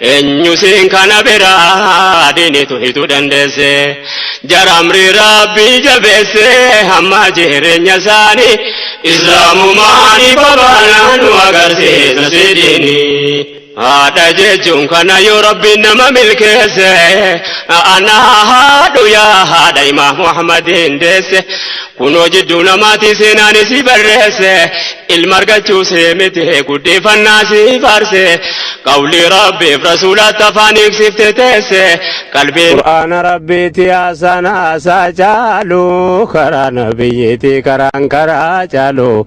Eenyu siin kana bira diinitu hitu dandeesse jara amrii rabbii jabeesse hamma jireenya isaanii islaamumaa ni babaana nu agarsiisa si diini. Haadha jechuun kana yoo rabbiin nama milkeesse ana haadhu yaa haadha imaam Muhammadiin deesse Kunoo jidduu namaatii seenaan isii barreesse ilma argachuu see miti guddeeffannaa sii faarse qawlii rabbiif rasuulaatti afaan hiiksifte teesse qalbii Qur'aana rabbiiti haasaan haasaa caalu karaa nabiyyiiti karaan karaa caalu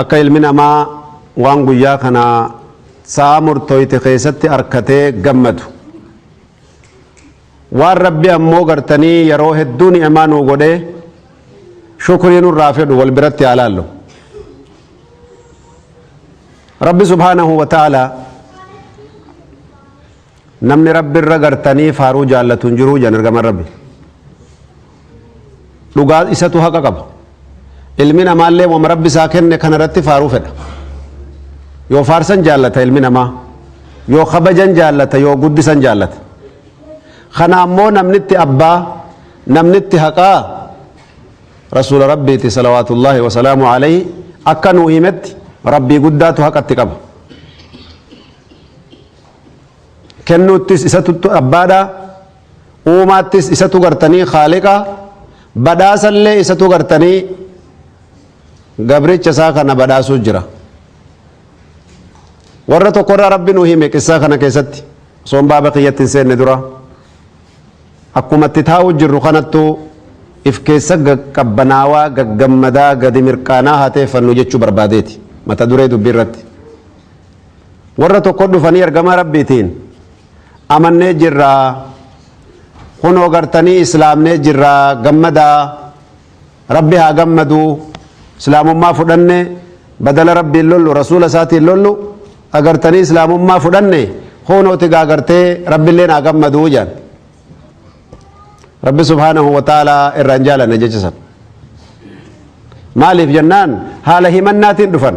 Akka ilmi namaa waan guyyaa kana sa'aa murtooyte keessatti arkatee gammadu. Waan Rabbi ammoo gartanii yeroo hedduu ni'emaa nuu godhee shukrii nurraa fedhu wal biratti haa laallu. Rabbi subhaanahu wa ta'aalaa Namni Rabbi irra gartanii faaruu jaallatu hin jiru jedhan ergamaan Rabbi. Dhugaa isatu haqa qaba. Ilmi namaallee wama Rabbi isaa kenne kana irratti faaruu fedha. Yoo faarsan jaallata ilmi namaa. Yoo kabajan jaallata yoo guddisan jaallata. Kana ammoo namnitti abbaa namnitti haqaa rasuula Rabbiiti salawaatullaahi wasalaamu alayhi akka nuu himetti Rabbii guddaatu haqatti qaba. kennuuttis isatu abbaadha uumaattis isatu gartanii khaaliqa badhaasallee isatu gartanii gabricha isaa kana badhaasuu jira warra tokkorraa rabbi nu hime qissaa kana keessatti osoon baaba kiyyatti hin seenne dura akkuma itti taa'uu jirru kanattu if keessa qabbanaawaa gaggammadaa gadi mirqaanaa haa teeffannu jechuu barbaadeeti mata duree dubbii irratti Warra tokko dhufanii ergamaa Rabbiitiin amannee jirra kunoo gartanii islaamnee jirra gammadaa Rabbi haa gammadu islaamummaa fudhanne badala Rabbiin lollu rasuula isaatiin lollu agartanii islaamummaa fudhanne kunooti gaa gartee Rabbilleen haa gammadu jedhan. Rabbi subhaanahu wa ta'aalaa irraa hin jaalanne jecha san. Maaliif jennaan haala himannaatiin dhufan.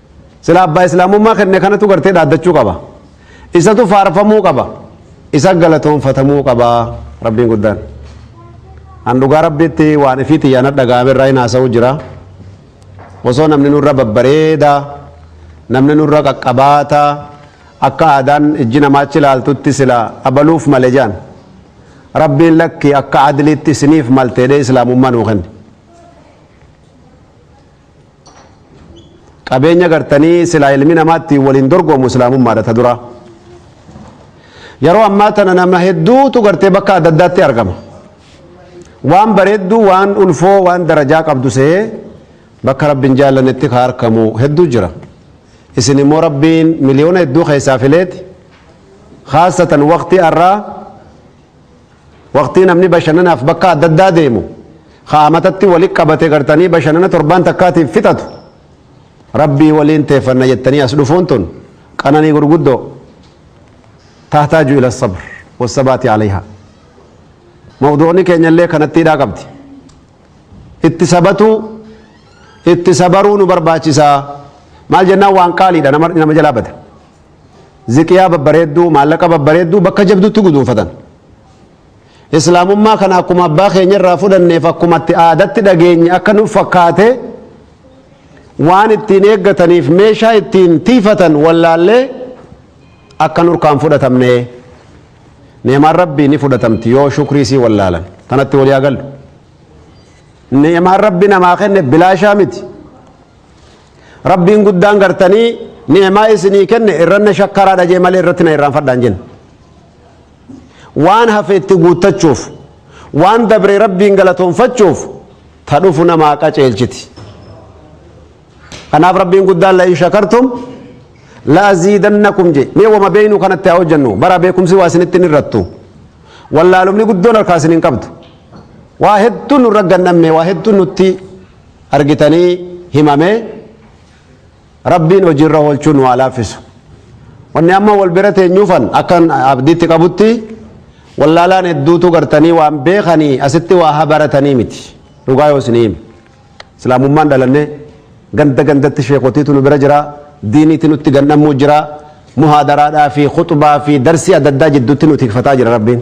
Silaa abbaa islaamummaa kenne kanatu gartee dhaaddachuu qaba. Isatu faarfamuu qaba. Isa galatoonfatamuu qaba rabbiin guddaan. An dhugaa rabbiitti waan ifii xiyyaan dhaga'ame irraa hin haasa'u jira. Osoo namni nurra babbareeda, namni nurra qaqqabaata, akka aadaan ijji namaa achi ilaaltutti sila abaluuf male jaan. Rabbiin lakki akka adliitti isiniif malteedhee islaamummaa nuu kenne. Qabeenya gartanii silaa ilmi namaa ittiin waliin dorgomu islaamummaadha ta duraa. Yeroo ammaa tana nama hedduutu gartee bakka adda addaatti argama. Waan bareedduu, waan ulfoo, waan darajaa qabdu se'ee bakka rabbiin jaallannetti ka argamu hedduu jira. Isin immoo rabbiin miliyoona hedduu keessaa fileeti. Khaasatan waqtii har'aa Waqtii namni bashannanaaf bakka adda addaa deemu, ka amatatti wali qabate gartanii bashannana torbaan takkaatiif fixatu, Rabbii waliin teeffanna jettanii as dhufuun tun qananii gurguddoo, tahtaaju ila sabr wassabaati alayhaa. Mawduu'ni keenyallee kanatti hidhaa qabdi. Itti sabatuu, itti sabaruu nu barbaachisaa. Maal jennaan waan qaaliidha nama jalaa bada. ziqiyaa babbareedduu, maallaqa babbareedduu bakka jabdutti guduunfatan. Islaamummaa kana akkuma abbaa keenya irraa fudhanneef akkuma itti aadatti dhageenye akka nuuf fakkaate waan ittiin eeggataniif meeshaa ittiin tiifatan wallaallee akka nurkaan fudhatamne ni'maan rabbii ni fudhatamti yoo shukrii sii wallaalan kanatti walii agallu. Ni'maan rabbi namaa kenne bilaashaa miti. Rabbiin guddaan gartanii ni'imaa isinii kenne irranna shakkaraadha jee malee irratti na irraanfadhaan jenna. Waan hafe itti guuttachuuf waan dabre rabbiin galatoonfachuuf ta dhufu namaa qaceelchiti. Kanaaf rabbiin guddaan la'in shakartum la'aziidannakum jee mee wama beeynu kanatti haa hojjennu bara beekumsi waa isinitti hin irrattu. Wallaalumni guddoon harkaa isin hin qabdu. Waa hedduun nurra gannamne waa hedduun nutti argitanii himame rabbiin hojiirra oolchuu nu haa laaffisu wanni amma wal bira teenyuufan akkan abdiitti qabutti wallaalaan hedduutu gartanii waan beekanii asitti waa haa baratanii miti dhugaa yoo isinii hime islaamummaan dhalannee ganda gandatti sheekotiitu nu bira jira diiniitti nutti gannamuu jira muhaadaraadhaa fi khuxbaa fi darsii adda addaa jidduutti nu tikfataa jira rabbiin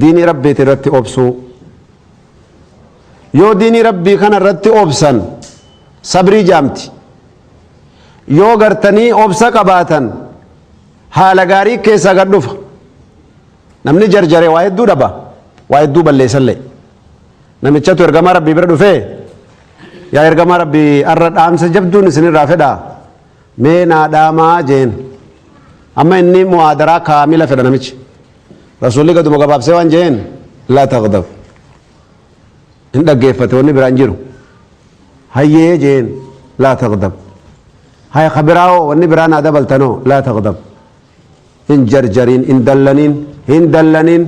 Diinii Rabbiiti irratti obsuu. Yoo diinii Rabbii kana irratti obsan sabrii jaamti. Yoo gartanii obsa qabaatan haala gaarii keessaa gad dhufa. Namni jarjare waa hedduu dhaba. Waa hedduu balleessallee. Namichatu ergamaa Rabbii bira dhufee yaa ergamaa Rabbii har'a dhaamsa jabduun isinirraa fedhaa mee naa dhaamaa jeen. Amma inni mu'aadaraa kaamila fedha namichi. Rasuulli gaduma gabaabsee waan jeen laa taqdab. Hin dhaggeeffate wanni biraan jiru. Hayyee jeen laa taqdab. Haya ka biraawoo wanni biraa naa dabaltanoo laa taqdab. Hin jarjariin hin dallaniin hin dallaniin.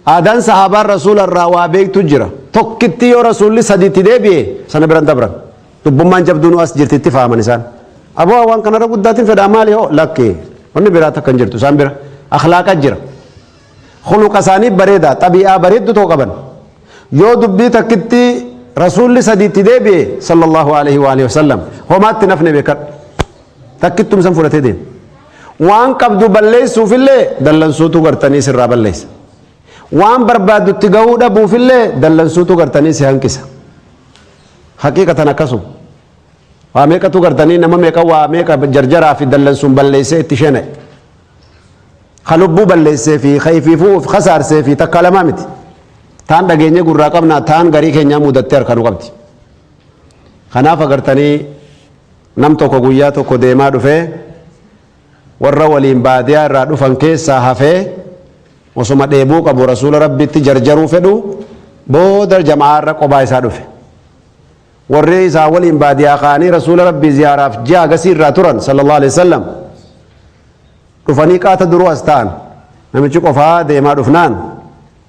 Aadaan sahaabaan rasuula irraa waa beektu jira. Tokkitti yoo rasuulli sadiitti deebi'e sana biran dabran. Dubbummaan jabduunuu as jirti itti faaman isaan. Aboo waan kanarra guddaatiin fedhaa maali hoo lakki wanni biraa takka hin jirtu isaan bira akhlaaqa jira. Khuluqa isaanii bareedaa xabi'aa bareeddu too qaban. Yoo dubbii takkitti rasuulli sadiitti deebi'e sallallahu alaihi wa alihi wasallam homaatti nafne beekadhu. Takkittum san fudhatee deema. Waan qabdu balleessuufillee dallansuutu gartanii sirraa balleessa. Waan barbaaddutti gahuu dhabuufillee dallansuutu gartanii si hanqisa. Haqiiqatan akkasuma. Waa meeqatu gartanii nama meeqa waa meeqa jarjaraa fi dallansuun balleessee itti shena'e. Ka lubbuu balleessee fi ka ifiifuu of kasaarsee fi takka lamaa miti. Taan dhageenye gurraa qabnaa taan garii keenyaa mudattee harka nu qabdi. Kanaaf agartanii nam tokko guyyaa tokko deemaa dhufee warra waliin baadiyaa irraa dhufan keessaa hafee osoma dheebuu qabu rasuula rabbitti jarjaruu fedhu booda jama'aarra qobaa isaa dhufe warri isaa waliin baadiyaa ka'anii rasuula rabbii ziyaaraaf ji'a agasii irraa turan sallallahu alaihi wasallam dhufanii qaata duruu as ta'an namichi qofaa deemaa dhufnaan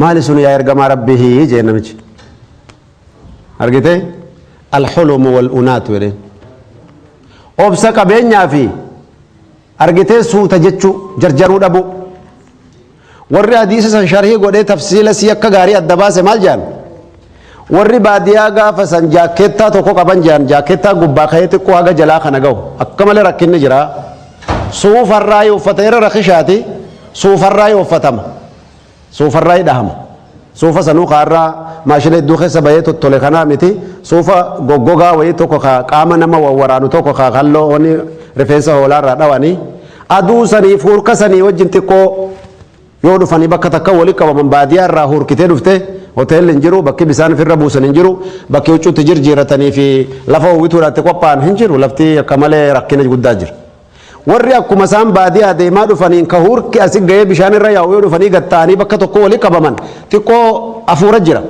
maali sun yaa ergamaa rabbihi jee namichi argite alxulumu walunaatu jedheen obsa qabeenyaa fi argitee suuta jechuu jarjaruu dhabuu warri hadiisa san sharhii godhee tafsiila sii akka gaarii adda baase maal jedhan Warri baadiyaa gaafa san jaakkeettaa tokko qaban jedhan jaakkeettaa gubbaa ka'ee xiqqoo haga jalaa kana gahu akka malee rakkinni jira. Suufarraayi uffata irra rakishaati suufarraayi uffatama. Suufarraayi dhahama. Suufa sanuu kaarraa maashina hedduu keessa bahee tottole kanaa miti suufa goggogaa wayii tokko ka qaama nama wawwaraanu tokko ka kalloo rifeensa hoolaarraa dhawanii aduu sanii fuurka sanii wajjin xiqqoo Yoo dhufanii bakka takka wali qabaman baadiyaa irraa huurkitee dhufte hoteelli hin jiru, bakki bisaan ifirra buusan hin jiru, bakki huccuu itti jirjiirratanii fi lafa howwituudhaaf itti qophaa'an hin jiru, lafti akka malee rakkina guddaa jira. Warri akkuma isaan baadiyaa deemaa dhufaniin ka huurki asi gahee bishaan irra yaa'u yoo dhufanii gad ta'anii bakka tokko wali qabaman xiqqoo afuura jira.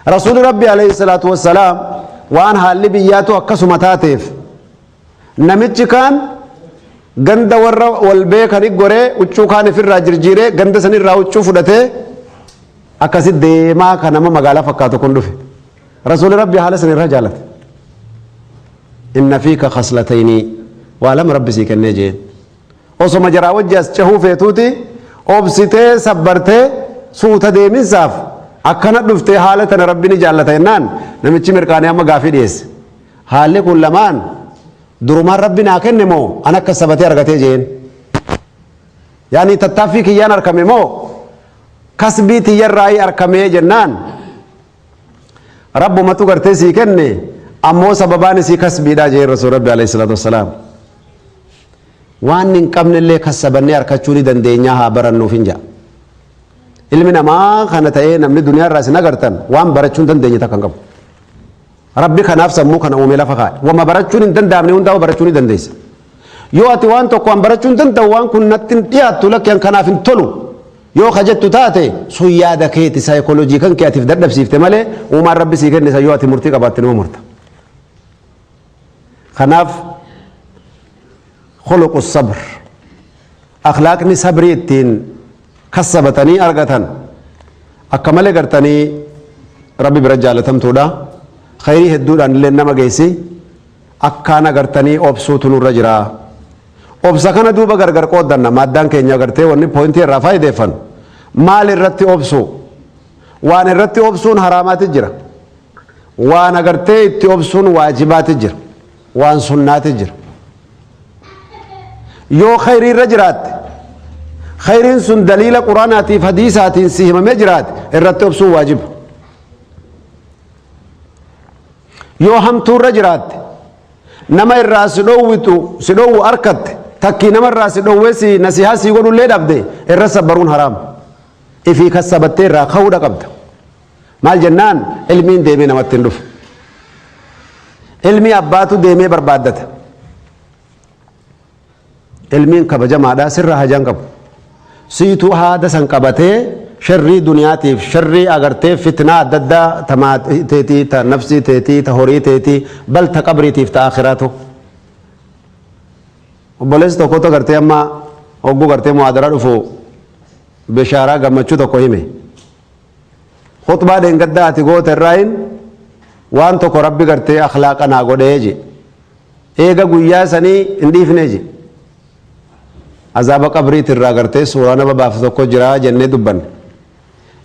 Rasuuli Rabbi alayhi salaatu wassalaam waan haalli biyyaatu akkasuma taateef Namichi kaan ganda warra wal beekani goree huccuu kaan ifirraa jirjiiree ganda sanirraa huccuu fudhatee akkasi deemaa ka nama magaalaa fakkaatu kun dhufe. Rasuuli Rabbi haala san irraa jaalate. Inna fiika khaslataynii waa lama Rabbi sii kennee jeen. Osoma jaraa wajji as cehuu feetuuti obsitee sabbartee suuta deeminsaaf akkana dhuftee haala tana Rabbi ni jaallata jennaan namichi mirqaanee amma gaafii dhiyeesse. Haalli kun lamaan durumaan Rabbi naa kenne moo an akka sabatee argatee jeen? Yaani tattaaffii kiyyaan arkame moo kasbii tiyyarraayii arkamee jennaan Rabbumatu gartee sii kenne ammoo sababaan isii kasbiidhaa jeen Rasuul Rabbi alayhi salaatu wassalaam. Waan hin qabnellee kassabannee arkachuu ni dandeenyaa haa barannuuf hin ja'a. Ilmi namaa kana ta'ee namni duniyaarraa isin agartan waan barachuu hin dandeenye takka hin qabu. Rabbi kanaaf sammuu kana uume lafa kaa'e. Wama barachuun hin danda'amne hundaa'u barachuu ni dandeessa. Yoo ati waan tokko an barachuu hin danda'u waan kun natti hin dhiyaattu lakki an kanaaf hin tolu yoo ka jettu taate sun yaada keeti saayikooloojii kan kee atiif dadhabsiifte malee uumaan rabbi sii kenne san yoo ati murtii qabaatte numa murta. Kanaaf khuluqu sabr akhlaaqni sabrii ittiin kassabatanii argatan akka malee gartanii rabbi bira jaalatamtuudha khayrii hedduudhaan illee nama geessi akkaan agartanii obsuutu nurra jira obsa kana duuba gargar qooddanna maaddaan keenya agartee wanni poointii irraa faayideeffan maal irratti obsu waan irratti obsuun haraamaati jira waan agartee itti obsuun waajibaati jira waan sunnaati jira yoo khayrii irra jiraatte khayriin sun daliila quraanaatiif hadiisaatiin si himamee jiraate irratti obsuun waajiba yoo hamtuu irra jiraatte nama irraa si dhoowwitu si dhoowwu arkatte takkii nama irraa si dhoowwee si nasihaa si godhullee dhabde irra sabbaruun haraama ifii kassabattee irraa ka'uudha qabda Maal jennaan ilmiin deemee namatti hin dhufu. Ilmii abbaatu deemee barbaaddata. Ilmiin kabajamaadha sirra hajaan qabu. Siituu haada san qabatee sharrii duniyaatiif sharrii agartee fitnaa adda addaa ta maatii teetii ta nafsii teetii ta horii teetii bal ta qabriitiif ta akhiraatu. Obboleessi tokkotu agartee amma hogguu gartee muhaadara dhufu bishaaraa gammachuu tokko hime. Khutbaa dheengaddaa ati goote irraayin waan tokko rabbi gartee akhlaaqa naa godhee je. Eega guyyaa sanii hin dhiifne je. Azaaba qabriiti irraa gartee suuraa nama baaftu tokko jira jennee dubbanne.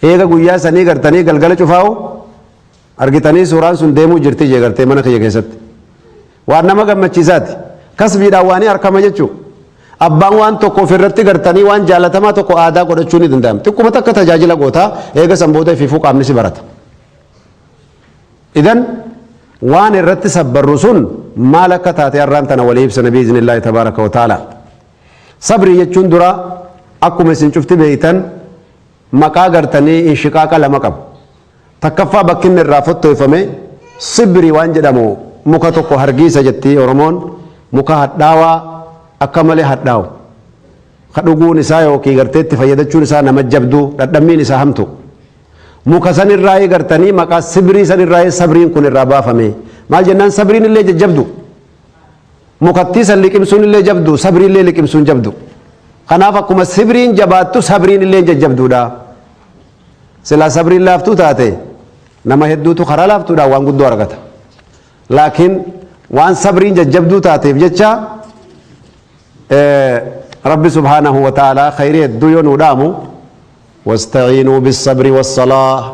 Eega guyyaa sanii gartanii galgala cufaa'u Argitanii suuraan sun deemuu jirti jee gartee mana kiyya keessatti. Waan nama gammachiisaati. Kasbiidhaan waanii arkama jechuu. Abbaan waan tokko ofirratti gartanii waan jaalatamaa tokko aadaa godhachuu ni danda'ama. Xiqquma takka tajaajila gootaa eega san booda ifiifuu qaamni si barata. Idan waan irratti sabbarru sun maal akka taate har'aan tana walii ibsana biiznillaahi tabaaraka wa ta'ala. Sabrii jechuun dura akkuma isin cufti beeytan Maqaa gartanii inshiqaaqa lama qabu. Takkaffaa bakki inni irraa fottoyfame sibri waan jedhamu muka tokko hargiisa jetti Oromoon muka hadhaawaa akka malee hadhaawu ka dhuguun isaa yookiin gartee itti fayyadachuun isaa nama jabdu dhadhammiin isaa hamtu. Muka san irraayii gartanii maqaa sibrii san irraayii sabriin kun irraa baafame. Maal jennaan sabriin illee jajjabdu. Mukattii san liqimsuun illee jabdu, sabrii illee liqimsuun jabdu. Kanaaf akkuma sibriin jabaattu sabriin illee jajjabduudha. Silaa sabriin laaftuu taate nama hedduutu karaa laaftuudhaan waan guddoo argata. Laakiin waan sabriin jajjabduu taateef jecha Rabbi subhaanahu wa ta'aalaa khayrii hedduu yoo nuu dhaamu wasta'iinuu bisabri wassalaa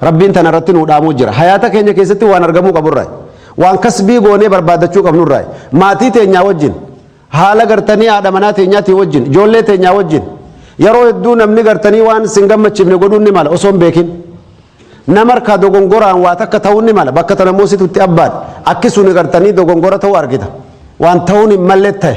Rabbiin tana irratti nuu dhaamuu jira. Hayaata keenya keessatti waan argamuu qabu irraa waan kasbii goonee barbaaddachuu qabnu irraa maatii teenyaa wajjin haala gartanii haadha manaa teenyaatii wajjin ijoollee teenyaa wajjin yeroo hedduu namni gartanii waan sin gammachiifne godhuun ni mala osoo hin beekin. Nama harkaa dogongoraan waa takka ta'uun ni mala bakka tana moositutti abbaan akki suni gartanii dogongora ta'uu argita waan ta'uun hin malle ta'e.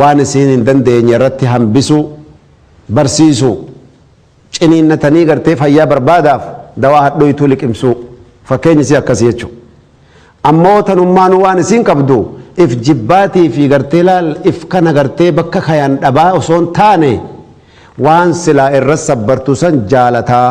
waan isiin hin dandeenye irratti hambisuu, barsiisuu, ciniinnatanii gartee fayyaa barbaadaaf dawaa hadhooytuu liqimsuu fakkeenyi isii akkasi jechu. Ammoo tanummaanuu waan isiin qabdu if jibbaatii fi gartee laal if kana gartee bakka kayan dhabaa osoo hin taane waan silaa irra sabbartu san jaalataa.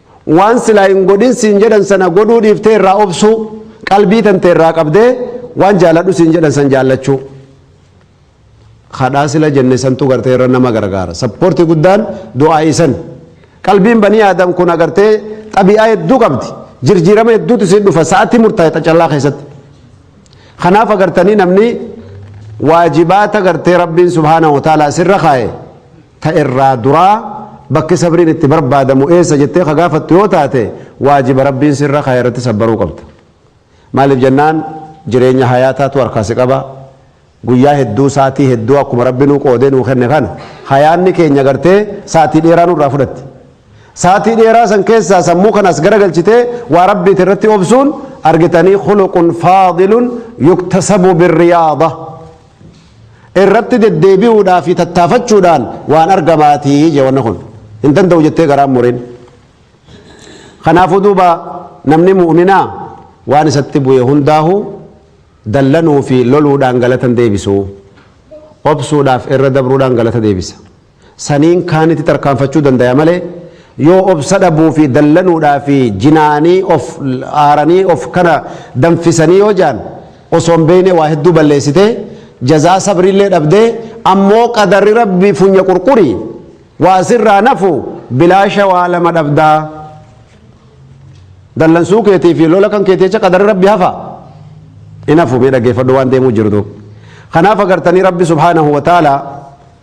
Waan silaa hin godhin siin jedhan sana godhuu dhiiftee irraa obsuu, qalbii tante irraa qabdee waan jaaladhu siin jedhan san jaallachuu. Kadhaa sila jenne santu gartee irra nama gargaara. Sappoortii guddaan du'aa'ii san. Qalbiin banii aadam kun agartee xabi'aa hedduu qabdi. Jirjiirama hedduutu siin dhufa sa'atii murtaa'e xacallaa keessatti. Kanaaf agartanii namni waajibaata gartee Rabbiin subhaanahu wa ta'ala sirra kaa'e. ta irraa duraa bakki sabriin itti barbaadamu eessa jettee ka gaafattu yoo taate waajiba rabbiin sirra kaa'e irratti sabbaruu qabda maaliif jennaan jireenya hayaataatu harkaa si qaba guyyaa hedduu saatii hedduu akkuma rabbi nuu qoodee nuu kenne kana hayaanni keenya gartee saatii dheeraa nurraa fudhatti saatii dheeraa san keessaa sammuu kanas garagalchitee waa rabbiit irratti obsuun argitanii khuluqun faadilun yuktasabu birriyaada irratti deddeebi'uudhaa fi tattaafachuudhaan waan argamaati je wanna kun hin danda'u jettee garaan mureen kanaafuu duuba namni mu'minaa waan isatti bu'e hundaahu dallanuu fi loluudhaan galatan deebisu obsuudhaaf irra dabruudhaan galata deebisa saniin kaanitti tarkaanfachuu dandaya malee yoo obsa dhabuu fi dallanuudhaa fi jinaanii of aaranii of kana danfisanii yoo jaan osoo hin beekne waa hedduu balleessitee jazaa sabriillee dhabdee ammoo qadarri rabbi funya qurquri waa sirraa nafu bilaasha waa lama dhabdaa dallansuu keetii fi lola kan keetii jecha qadarri rabbi hafa hin hafu mee dhaggeeffadhu waan deemuu jirtu kanaaf agartanii rabbi subhaanahu wa ta'ala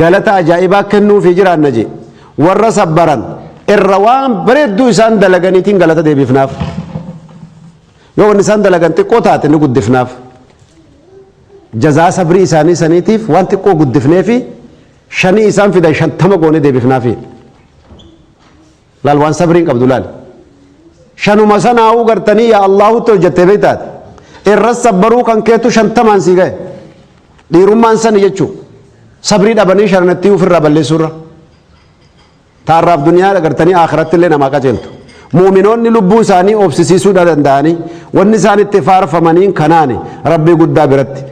Galata ajaa'ibaa kennuufii jiraanna je. Warra sabbaran irra waan bareedduu isaan dalaganiitiin galata deebifnaaf. Yoo wanni isaan dalagan xiqqoo taate ni guddifnaaf. Jazaa sabrii isaanii saniitiif waan xiqqoo guddifneefi shanii isaan fidan shantama goone deebifnaafi. Laal waan sabriin qabdu laal. Shanuma sanaa'uu gartanii yaa Allaahutti hojjattee beektaati. Irras sabbaruu kan keetu shantamaan sii gahe. Dhiirummaan sani jechuu. Sabrii dhabanii shananattii ofirraa balleessuurra. Taarraaf duniyaa gartanii akhiratti illee namaa qajeeltu. Muuminoonni lubbuu isaanii obsisiisuu danda'anii wanni isaan itti faarfamaniin kanaani rabbii guddaa biratti.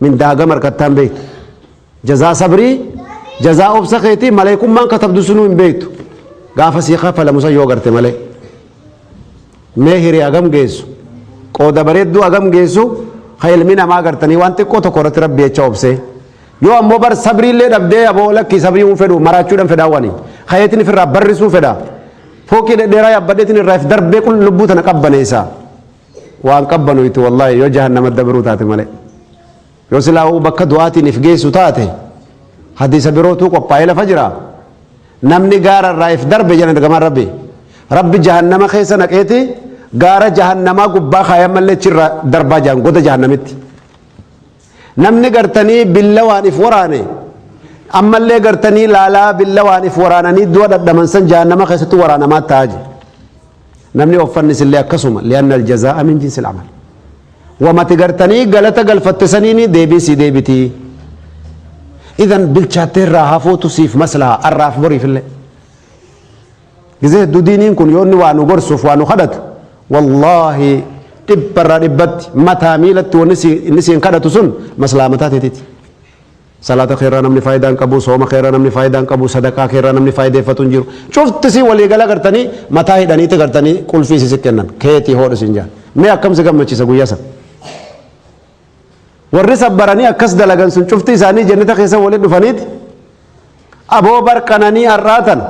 Mindaa hagam argattaa hin beektu. Jazaa sabrii, jazaa obsa keetii maleekummaan katabdu sunuu hin beektu. Gaafa sii kafalamu san yoo garte malee. Mee hiri hagam geessu. Qooda bareedduu hagam geessu ka ilmi namaa gartanii waan xiqqoo tokko irratti rabbi jecha obsee. Yoo ammoo bar sabrii illee dhabdee aboo lakkii sabrii hin fedhu maraachuudhaan fedhaa wani. Kayeetiin ifirraa barrisuu fedha. Fookii dhedheeraa yaabbadheetiin irraa if darbee qul lubbuu tana qabbaneessa. waan qabbanoytu wallaahi yoo jahannama dabruu taate malee yoo silaa uu bakka du'aatiin if geessu taate hadiisa birootuu qophaa'ee lafa jira namni gaara irraa if darbe jedhan ergamaan rabbi rabbi jahannama keessa naqeeti gaara jahannamaa gubbaa kaayan mallee chirra darbaa jahan goda jahannamitti namni gartanii billawaan if waraane ammallee gartanii laalaa billawaan if waraananii du'a dhadhaman san jahannama keessatti waraanamaa ta'aa jiru Namni offannis illee akkasuma li'anna aljazaa'a min jinsi al'amal. Wamati gartanii galata galfatte saniini deebiin sii deebitii. Idan bilchaattee irraa hafuutu siif maslaha arraaf boriif illee. Gizee hedduu diiniin kun yoo inni waa nu gorsuuf waa nu kadhatu wallaahi dhibba irraa dhibbatti mataa miilatti wanni inni siin kadhatu sun maslaha mataa teetiiti. Salaata kee irraa namni faayidaa hin qabu, sooma kee irraa namni faayidaa hin qabu, sadaqaa kee irraa namni faayideeffatu hin jiru. Cufti isii walii gala gartanii mataa hidhaniiti gartanii qulfii isii si kennan. Keetii hoodhu siin jaan. Mee akkam si gammachiisa guyyaa san. Warri sabbaranii akkas dalagan sun cufti isaanii jennata keessa walitti dhufaniiti. Aboo bar qananii ar'aa tana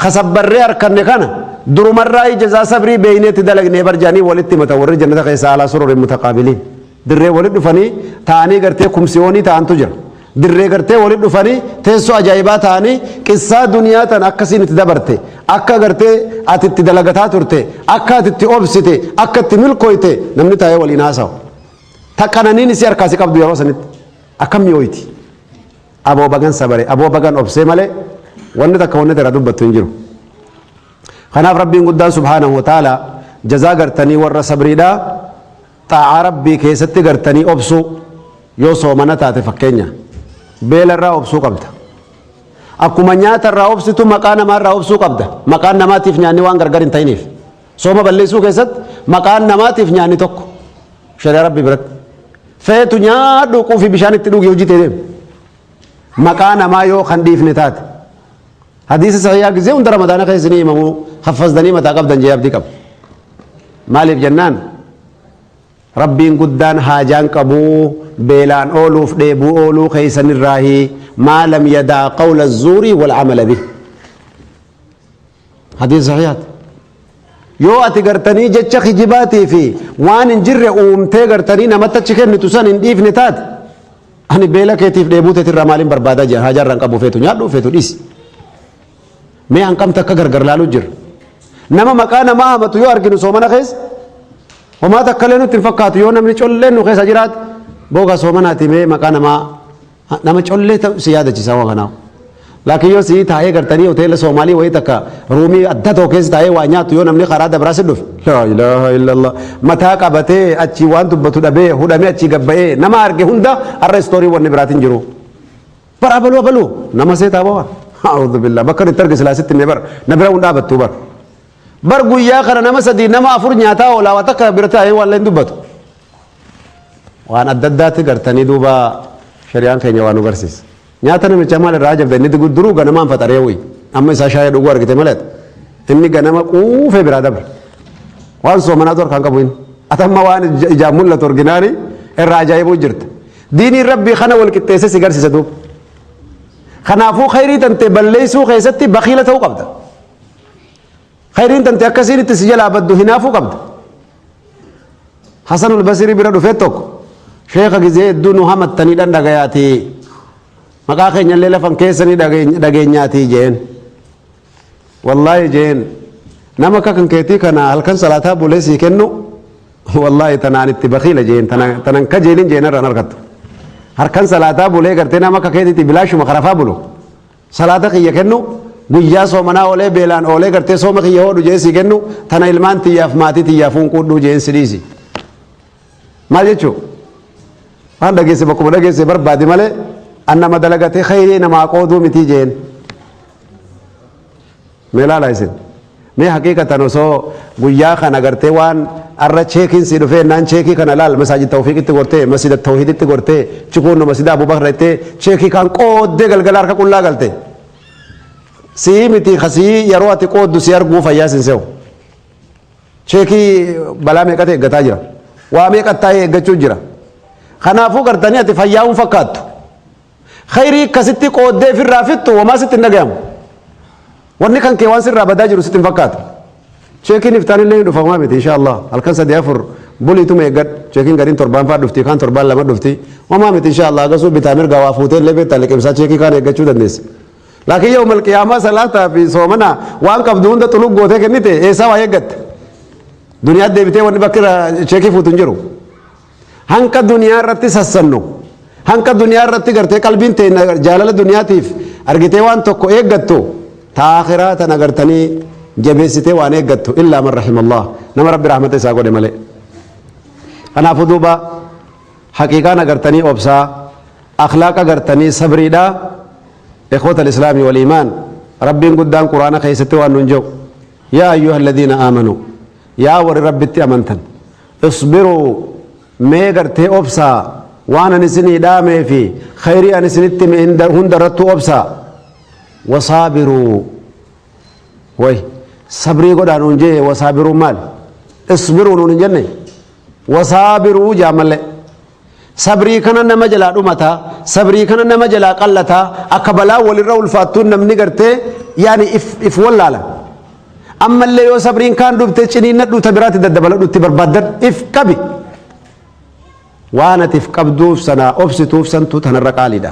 ka sabbarree arkanne kana durumarraayii jazaa sabrii beeynee itti dalagnee bar jedhanii walitti himatan warri jannata keessa alaa sururin mutaqaabiliin dirree walitti dhufanii taa'anii gartee kumsiyoonii ta'antu jira dirree gartee walitti dhufanii teessoo ajaa'ibaa ta'anii qissaa duniyaa tana akkasiin itti dabarte akka gartee ati itti dalagataa turte akka ati itti obsite akka itti milkooyte namni taa'ee waliin haasawa ta qananiin isii harkaasi qabdu yeroo sanitti akkam mi'ooyti Abo bagan sabare abo bagan obsee male wanni takka wanni tera dubbattu hin jiru kanaaf rabbiin guddaan subhaanahu wa ta'ala jazaa gartanii warra sabriidha xaa'aa rabbii keessatti gartanii obsuu yoo soomana taate fakkeenya beela irraa obsuu qabda akkuma nyaata irraa obsitu maqaa namaa irraa obsuu qabda maqaan namaatiif nyaanni waan gargar hin ta'iniif Sooma balleessuu keessatti maqaan namaatiif nyaanni tokko shari'a rabbi biratti feetu nyaadhu quufii bishaan itti dhugi hojii ta'e maqaa namaa yoo kan dhiifne taate hadiisa sahiyaa gisee hunda ramadaana keessa ni himamu haffasdanii mataa qabdan jee abdii qabu maaliif jennaan rabbiin guddaan haajaan qabuu beelaan ooluuf dheebuu ooluu keessanirraahi maa lam yadaa qawla zuurii wal amala bih hadiisa sahihaati yoo ati gartanii jecha kijibaatii fi waan hin jirre uumtee gartanii namatti achi kennitu san hin dhiifne taate ani beela keetiif dheebuu teetirraa maaliin barbaadaa jira haajaarraa hin qabu feetu nyaadhu feetu dhiisi mee hanqamta akka gargar laaluu jira nama maqaa namaa hamatu yoo arginu soomana keessa homaa takkalee nutti hin fakkaatu yoo namni colleen nu keessa jiraate booga soomanaatii mee maqaa namaa Nama collee ta'u si yaadachisaa waa kanaa. Laakiin yoo sii taa'ee gartanii hoteela Soomaalii wayii takka ruumii adda tokko keessa taa'ee waa nyaatu yoo namni karaa dabraa si dhufe. Laa ilaaha illallah. Mataa qabatee achii waan dubbatu dhabee hudhamee achii gabba'ee nama arge hunda har'a istoorii wanni biraatiin jiru. Bara abaluu abaluu nama seetaa bawa. A'uudhu billaa bakka itti arge silaa sitti mee bara na bira hunda dhaabbattuu bara. Bar guyyaa kana nama sadii nama afur nyaataa oolaa waa takka bira taa'ee waan leen dubbatu. waan adda addaatti gartanii duuba shari'aan keenya waan nu garsiisa. Nyaata namichaa maal irraa ajabda inni digu duruu ganamaan faxaree wuyi. Amma isaa shaayee dhuguu argite malee inni ganama quufee biraa dabre. Waan soomanaatu harkaan qabu inni. Atamma waan ija- ijaan mul'atu orginaali irraa ajaa'ibuu jirta. Diiniin rabbii kana wal qixxeessee si garsiisa duuba. Kanaafuu khayrii tantee balleessuu keessatti bakiila ta'uu qabda. Khayriin tante akkasiin itti si jalaa baddu hinaafuu qabda. Hasanul Basirii bira dhufee tokko sheeka gizee hedduu nu hamattaniidhaan dhagayaatii maqaa keenyallee lafan keessanii dhageenyaatii jeen. Wallaahi jeen nama akka kan keetii kana halkan salaataa bulee sii kennu wallaahi tanaan itti bakiila jeen tanan kajeelin jeen irraan argattu. Harkan salaataa bulee gartee nama akka keetiitti bilaashuma karafaa bulu. Salaata kiyya kennu, guyyaa soomanaa oolee beelaan oolee gartee sooma kiyya hoodhu jee sii kennu, tana ilmaan tiyyaaf maatii tiyyaaf hunquudhuu jeen si dhiisi. Maal jechuu? Waan dhageesse bakkuma dhageesse barbaadi malee an nama dalagatee khayrii namaa qooduu mitii jeen. Mee laala isin. Mee haqiiqatan osoo guyyaa kana gartee waan arra cheekiin sii dhufee naan cheekii kana laal masaajid tawfiiqitti gortee masjida tawhiiditti gortee chikuunno masjida abubakra ittee cheekii kaan qooddee galgala harka qullaa galte sii miti kasii yeroo ati qooddu si arguu fayyaa sin se'u cheekii balaa meeqatu eeggataa jira waa meeqattaa'ee eeggachuu jira kanaafuu gartanii ati fayyaa hin fakkaattu Khayrii akkasitti qooddee ifirraa fixxu wamaa sitti hin dhagayamu. Wanni kan kee waan sirraa badaa jiru sitti hin fakkaatu. Cheekiin iftaan illee hin dhufa homaa miti insha Allah. Halkan sadii afur buliituma eeggadhu. Cheekiin gariin torbaan fa'aa dhufti kaan torbaan lama dhufti. Homaa miti insha Allah agasuu bitaa mirga waa fuutee illee beektaa liqimsaa cheekii kaan eeggachuu dandeessa. Laakiin yoo malqiyaamaa salaataa fi soomana waan qabdu hunda xulug gootee kennite eessaa waa eeggatta. Duniyaa deebitee wanni bakka irraa cheekii fuutu hin jiru. Hanqa duniyaa irratti sassannu. Hanqa duniyaa irratti gartee qalbiin teenya jaalala duniyaatiif argitee waan tokko eeggattu taa akiraa tan agartanii jabeessitee waan eeggattu illaa man rahimallah nama rabbi rahmata isaa godhe malee. Kanaafuu duuba haqiiqaan agartanii obsaa akhlaaq agartanii sabriidha ikhwata al-islaamii wal iimaan rabbiin guddaan quraana keessatti waan nuun jedhu yaa ayyuha alladhiina aamanuu Yaa warri Rabbitti amantan, isbiruu, mee gartee obsaa, waan ani isinii dhaamee fi khayrii ani isinitti hime hinda- hundarrattuu obsaa. Wasaabiruu, way, sabrii godhaa nuun jee, wasaabiruu maal? Isbiruu nuun hin jenne? Wasaabiruu jaa malee. Sabrii kana nama jalaa dhumata, sabrii kana nama jalaa qallata, akka balaa walirra ulfaattuun namni gartee yaani if, if wallaala. Ammallee yoo sabriin kaan dhufte ciniinnadhu ta biraatti daddabaladhu itti barbaaddadhu if qabi. Waan ati if qabduuf sana obsituuf santu tanarra qaaliidha.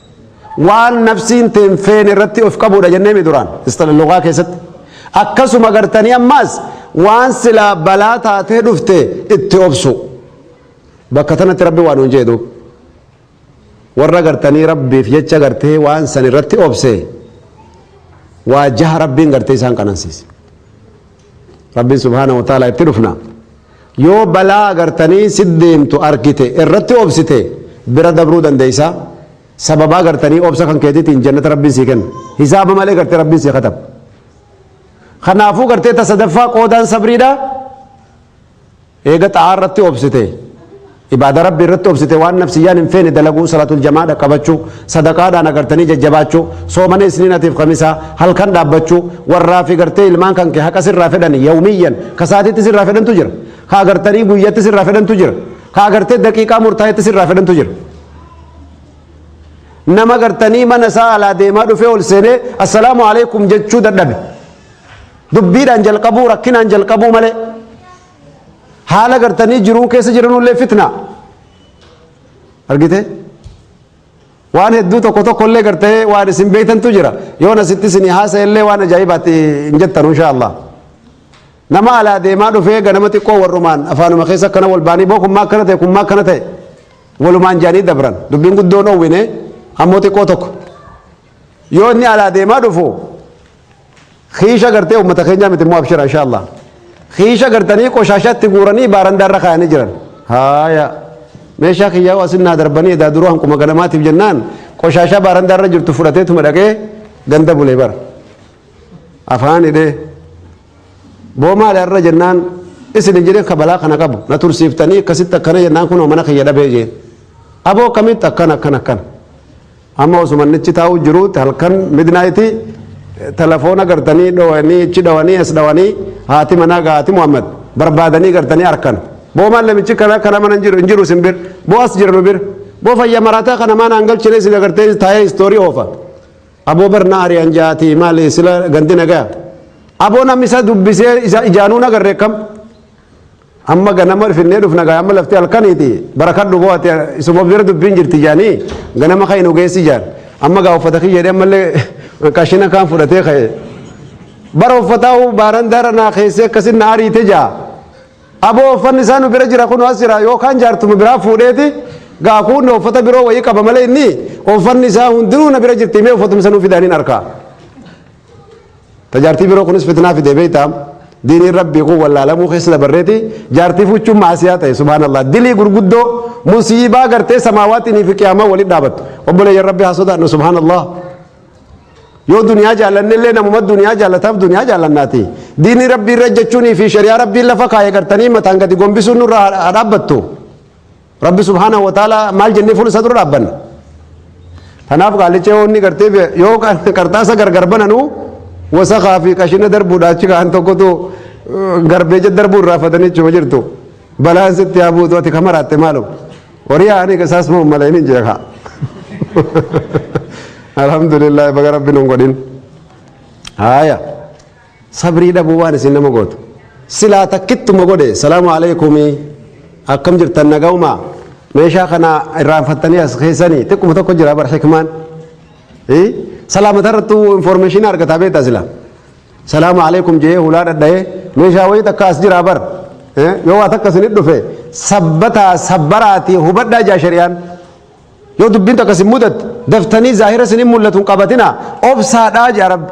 waan nafsiin teen feene irratti of qabuudha jennee mi duraan istalalluqaa keessatti akkasuma gartanii ammaas waan silaa balaa taatee dhufte itti obsu bakka tanatti rabbi waan hin jedhu warra gartanii rabbiif jecha gartee waan san irratti obse waa jaha rabbiin gartee isaan qanansiise rabbiin subhaana wa ta'ala itti dhufna yoo balaa agartanii si deemtu argite irratti obsite bira dabruu dandeeysa sababa agartanii obsa kan keetitiin jannata rabbiin sii kenna hisaaba malee garte rabbiin sii katab kanaafuu gartee ta sadaffaa qoodaan sabriidha Eega xaa'aa irratti obsite, ibaada Rabbii irratti obsite waan nafsiyyaan hin feene dalaguu, salaatul jama'aa dhaqqabachuu, sadaqaadhaan agartanii jajjabaachuu, soomana isniinatiif kamisaa, halkan dhaabbachuu, warraa fi gartee ilmaan kan kee haqa sirraa fedhan yawmiyyan, ka sa'atiitti sirraa fedhantu jira, ka agartanii guyyatti sirraa fedhantu jira, ka agartee daqiiqaa murtaa'etti sirraa fedhantu jira. Nama gartanii mana isaa alaa deemaa dhufee ol seenee assalaamu alaikum jechuu dadhabe. Dubbiidhaan jalqabuu rakkinaan jalqabuu malee haala gartanii jiruun keessa jiranullee fitna. Argite? Waan hedduu tokko tokko illee gartee waan isin beektantu jira. Yoon asitti isin haasa'e illee waan ajaa'ibaatti hin jettan insha Allah. Nama alaa deemaa dhufee ganama xiqqoo warrumaan afaanuma keessa akkana wal baanii boo kun maa akkana ta'e kun maa akkana ta'e walumaan jaanii dabran dubbiin guddoon oowwine ammoo xiqqoo tokko. Yoo inni alaa deemaa dhufu Kiisha gartee uummata keenyaa miti immoo abshira insha Allah. Kiisha gartanii qoshaashatti guuranii baarandaa irra kaayanii jiran. Haaya. Meeshaa kiyyaa hoo asin naa darbanii edaa duruu hanquma ganamaatiif jennaan qoshaashaa baarandaa irra jirtu fudhateetuma dhaqee ganda bulee bara. Afaan hidhee. Boo maali irra jennaan isin hin jedhin kabalaa kana qabu na tursiiftanii akkasitti akkana jennaan kunoo mana kiyya dhabee jeen. Aboo akkamitti akkana akkana akkana. Amma osuma inni achi taa'uu jiruutti halkan midnight telefoona gartanii dhowanii achi dhowanii as dhowanii haati manaa gaa haati Muhammad barbaadanii gartanii arkan. Boo maal namichi kana kana mana hin jiru hin jiru isin bir boo as jira nu bir boo fayya maraataa kana maan aan galchine isin agartee taa'ee istoorii oofa. Aboo barnaa ari'an jaati maali sila gandi nagaa. Aboo namni isa dubbisee isa ijaanuu nagarre kam. Amma ganama finnee dhufna gaa amma lafti halkaniiti barakadhu boo ati isuma bira dubbiin jirti jaanii ganama ka'e nu geessi jaan amma gaa uffata kiyya jedhee ammallee qashina kaan fudhatee ka'e bara uffataa uu baaran daara naa keessee akkasin na ariite jaa aboo uffanni isaa nu bira jira kun as jira yookaan jaartuma biraa fuudheeti gaa kuunna uffata biroo wayii qaba malee inni uffanni isaa hundinuu na bira jirti mee uffatumsa nu fidaaniin arkaa Tajaartii biroo kunis fitnaa fidee beektaa diiniin rabbii kun wallaalamuu keessa dabarreeti jaartii fuuchuun maasiyaa ta'e subhaanallah dilii gurguddoo musiibaa gartee samaawaatiin fi qiyaamaa walitti dhaabattu obboleeyyan rabbii haa sodaannu subhaanallah yoo duniyaa jaallanne illee namuma duniyaa jaallataaf duniyaa jaallannaati diinii rabbii irra jechuunii fi shari'aa rabbiin lafa kaa'e gartanii mataan gadi gombisuun nurra haa dhaabbattu. Rabbi subhaanahu wa ta'ala maal jennee fuula isaa dura dhaabbanna? Kanaaf qaallicha yoo inni gartee bee- yoo qar- qarxaasa gargar bananu wasakaa fi qashina darbuudha achi ka'an tokkotu eh, garbeeja darbuu irraa fatanii jechuma jirtu. Balaan sitti haa buutu ati kama raatte maalum. Horii haa ani isaas moo malee inni jira kaa. Alhamdulillah baga rabbi nun godhin. Haaya. sabrii dhabuu waan isin nama gootu silaa takkittuma godhe salaamu alaikumii akkam jirtan nagaumaa meeshaa kana irraanfattanii as keessanii xiqquma tokko jira bar hikmaan salaamata irrattu informeeshinii argataa beektaa silaa salaamu alaikum jee hulaa dhadha'ee meeshaa wayii takka as jira bar yoo waa takka isinit dhufe sabbataa sabbaraatii hubadhaa jaa shari'aan yoo dubbiin takka isin mudatte daftanii zaahira isin hin mul'atu hin qabatina obsaadhaa jaa rabbi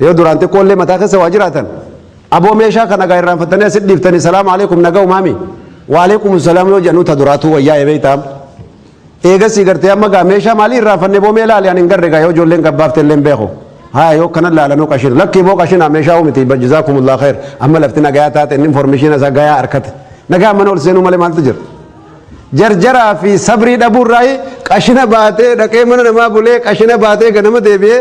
Yoo duraan xiqqoo illee mataa keessa waa jiraatan aboo meeshaa kana gaa irraanfattanii asit dhiiftanii salaamu alaikum nagaa umaami wa alaikum salaam yoo jedhanu ta duraatuu wayyaa ebeeytaam. Eegasii gartee amma gaa meeshaa maalii irraanfanne boo mee laali ani hin garre gaa yoo ijoolleen gabbaafte illee hin beeku. Haa yoo kanan laalanuu qashinu lakkii boo qashina meeshaa uumiti bajjisaa kumullaa kheer amma lafti nagayaa taate inni informeeshiina isaa gayaa harkate nagaa mana ol seenuu malee maaltu jira. jarjaraa fi sabrii dhabuurraa qashina baatee dhaqee mana namaa bulee qashina baatee ganama deebi'ee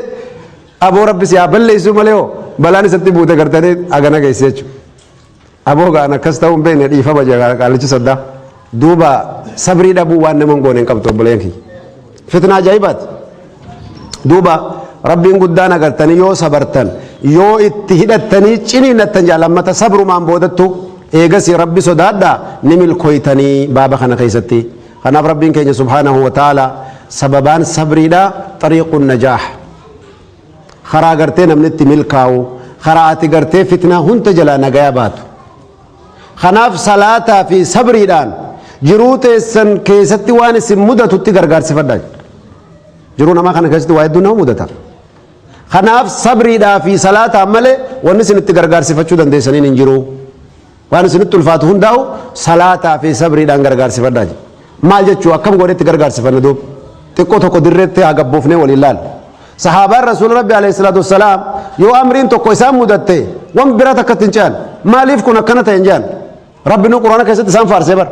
Aboo rabbi si haa balleessuu malee hoo balaan isatti buute gartanii hagana geesse jechuudha. Aboo ga'an akkas ta'uu hin beekne dhiifama jedha qaallichi saddaa. Duuba sabrii dhabuu waan nama hin goone hin qabdu obboleen kiyya. Fitna ajaa'ibaati. Duuba rabbiin guddaan agartanii yoo sabartan yoo itti hidhattanii ciniinnattan jaal ammata sabrumaan boodattu eegasii rabbi sodaadhaa ni milkooytanii baaba kana keessatti. Kanaaf Rabbiin keenya subhaanahu wa ta'aala sababaan sabriidha xariiqun najaah. Karaa gartee namni itti milkaa'u, karaa ati gartee fitnaa hunda jalaa nagaya baatu. Kanaaf salaataa fi sabriidhaan jiruu teessan keessatti waan isin mudatutti gargaarsifadha. Jiruu namaa kana keessatti waa hedduu nama mudata. Kanaaf sabriidhaa fi salaataan malee wanni isin itti gargaarsifachuu dandeessaniin hin jiru. waan isinitti ulfaatu hundaa'u salaataa fi sabriidhaan gargaarsifadhaa jedhe. Maal jechuu akkam godhetti gargaarsifanna duuba. Xiqqoo tokko dirreetti haa gabboofnee waliin laala. Sahaabaan Rasuula Rabbi alayhi salaatu wassalaam yoo amriin tokko isaan mudatte waan biraa takkatti hin ce'an. Maaliif kun akkana ta'e hin jedhan. Rabbi nu Quraana keessatti isaan faarsee bara.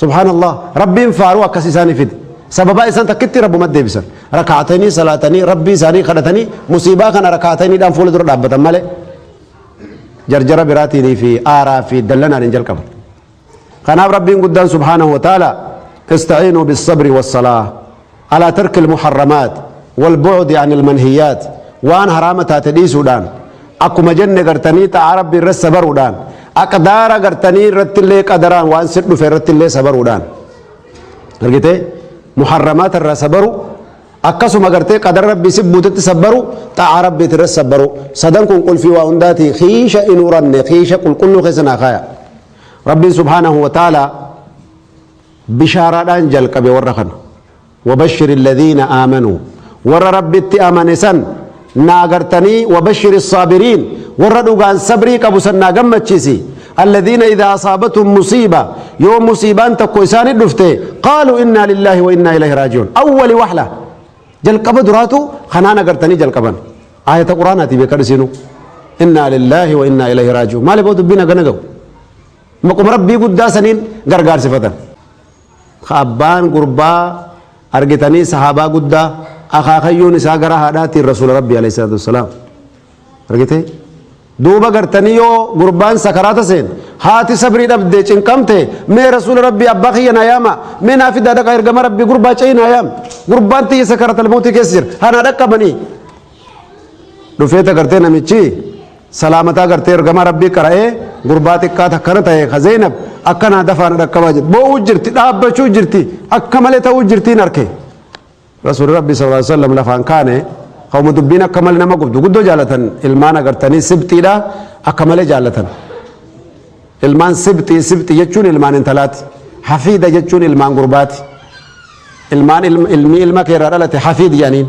Subhaan Allah Rabbiin faaruu akkas isaanii fide sababaa isaan takkitti Rabbuma deebisan rakaatanii salaatanii Rabbii isaanii kadhatanii musiibaa kana rakaataniidhaan fuula dura dhaabbatan malee jarjara biraatiin fi aaraa fi dallanaan hin jalqaban kanaaf Rabbiin guddaan subhaanahu wa ta'ala ista'iinuu bis sabri was salaa Alaa tarkil muharramaat wal bu'udi anil manhiyaat waan haraama taate dhiisuudhaan akkuma jenne gartanii xaa'aa rabbii irratti sabaruudhaan aqdaara gartanii irrattillee qadaraan waan sir dhufe irrattillee sabaruudhaan argite muharramaata irraa sabaru akkasuma gartee qadara rabbii si buutetti sabbaru xaa'aa rabbiiti irratti sabbaru sadan kun qulfii waa hundaati kiisha hin uranne kiisha qulqulluu keessa naa kaaya rabbiin subhaanahu wa ta'aalaa Bishaaraadhaan jalqabe warra kana. Wabashshiri alladhiina aamanuu. Warra Rabbitti amane san naa gartanii wabashshiri assaabiriin. Warra dhugaan sabrii qabu san naa gammachiisi. Alladhiina idhaa asaabathum musiiba. Yoo musiibaan takko isaanit dhufte qaaluu innaa lillaahi wa innaa ilayhi raaji'uun. Awwali wahla. Jalqaba duraatu kanaan agartanii jalqaban. Aayata Qur'aanaati beekadhu isiinuu. Innaa lillaahi wa innaa ilayhi raaji'uun. Maaliif hoo dubbiin hagana gahu? Maquma Rabbii guddaa saniin gargaarsifatan. Ka abbaan gurbaa argitanii sahaabaa guddaa akaakayyuun isaa gara haadhaatiin Rasuula Rabbii alayhi salaatu wassalaam. Argitee? Duuba gartanii yoo gurbaan sakaraata seen haati sabrii dhabde cinqamte mee Rasuula Rabbii abbaa kiyya naa yaama mee naa fidaa dhaqa ergama Rabbii gurbaa ce'ii naa yaam gurbaan tiyya sakaraata lmootii keessa jira hanaa dhaqqabanii dhufeeta gartee namichi Salaamataa gartee ergamaa Rabbii qara'ee gurbaa xiqqaa takkana ta'e ka Zeenab akka naa dafaa na dhaqqabaa jedhe. Boo'uu jirti, dhaabbachuu jirti, akka malee ta'uu jirtiin arke. Rasuulli Rabbii sallallahu alaihi wasallam lafaan kaane qawma dubbiin akka malee nama gubdu guddoo jaalatan ilmaan agartanii sibxiidha akka malee jaalatan. Ilmaan sibxii sibxii jechuun ilmaan intalaati. Hafiida jechuun ilmaan gurbaati. Ilmaan ilmi ilma keerraa dhalate hafiid jedhaniin.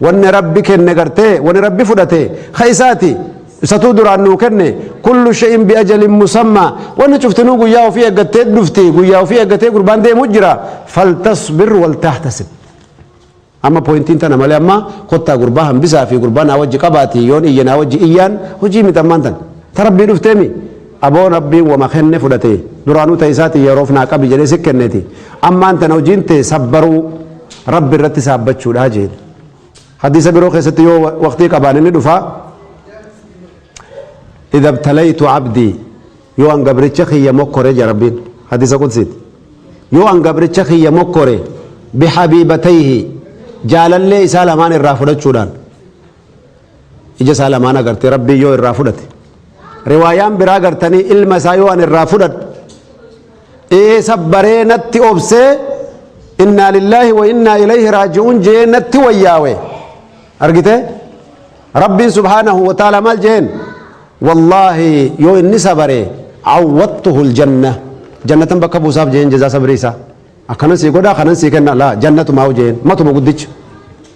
Wanni Rabbi kenne gartee wani Rabbi fudhate ka isaati isatuu duraan nuu kenne kullu shay'in bi ajalin musammaa wanni cuftinuu guyyaa ofii eeggattee dhufti guyyaa ofii eeggatee gurbaan deemu jira faltasbir wal tahtasib amma pointiin tana malee amma kottaa gurbaa hambisaa fi gurbaa naa wajji qabaati yoon iyya naa wajji iyyaan hojii miti ammaan tan ta rabbii dhufteemi Aboo rabbiin wama kenne fudhate duraanuu ta isaati yeroof naa qabi jedhee si kenneti ammaan tana hojiin tee sabbaruu rabbi irratti saabbachuudha jeen hadiisa biroo keessatti yoo waqtii qabaan inni dhufa idha ibtalaytu abdii yoo an gabricha kiyya mokkore jedha rabbiin hadiisa qudsiiti yoo an gabricha kiyya mokkore bihabiibatayhi jaalallee isaa lamaan irraa fudhachuudhaan ija isaa lamaan agartee rabbiin yoo irraa fudhate riwaayaan biraa gartanii ilma isaa yoo an irraa fudhadhu ee sabbaree natti obsee innaa lillaahi wa innaa ilayhi raaji'uun jee natti wayyaawe argite rabbiin subhaanahu wa ta'ala maal jeen wallaahi yoo inni sabare awwattuhu aljanna jannatan bakka buusaaf jeen jazaa sabrii isaa akkanan sii godhaa kanan sii kenna laa jannatumaa jeen matuma guddicha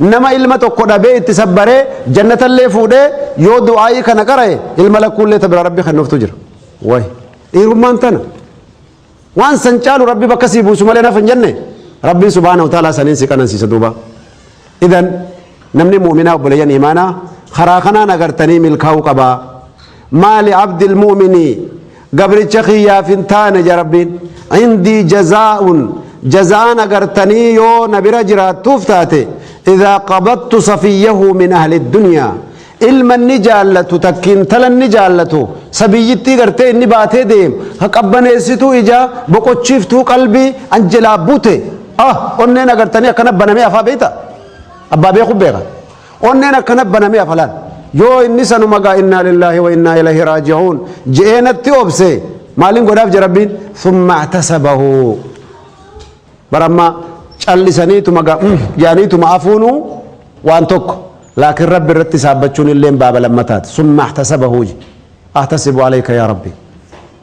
Nama ilma tokko dhabee itti sabbaree jannatallee fuudhee yoo du'aa'ii kana qara'e ilma lakkuullee ta biraa rabbi kennuuftu jira. Wayi dhiirummaan tana waan san caalu rabbi bakka sii buusu malee naf hin jenne rabbiin subhaanahu wa ta'aalaa saniin si qanansiisa duuba. Idan namni mu'minaa obboleeyyan imaanaa karaa kanaan agartanii milkaa'uu qabaa. maali abdil mu'mini gabricha kiyyaaf hin taane ja rabbiin indii jazaa'un jaza'aan agartanii yoo na bira jiraattuuf taate idaa qabattu safiyyahu min ahli dunyaa ilma inni jaallatu takki intala inni jaallatu sabiyyittii gartee inni baatee deem ha qabbaneessituu ijaa boqochiiftuu qalbii an jelaa bute ah onneen agartanii akkana banamee afaa beeyta abbaa beeku beeka Onneen akkana banamee hafa laal. Yoo inni sanuma gaa innaa lillaahi wa innaa ilahi raaji'uun je'ee natti obse maalin godhaaf je rabbiin thumma ihtasabahu bara amma callisaniituma gaa mm jaaniituma afuunu waan tokko laakiin rabbi irratti saabbachuun illeen baaba lammataati thumma ihtasabahu je ahtasibu alayka yaa rabbi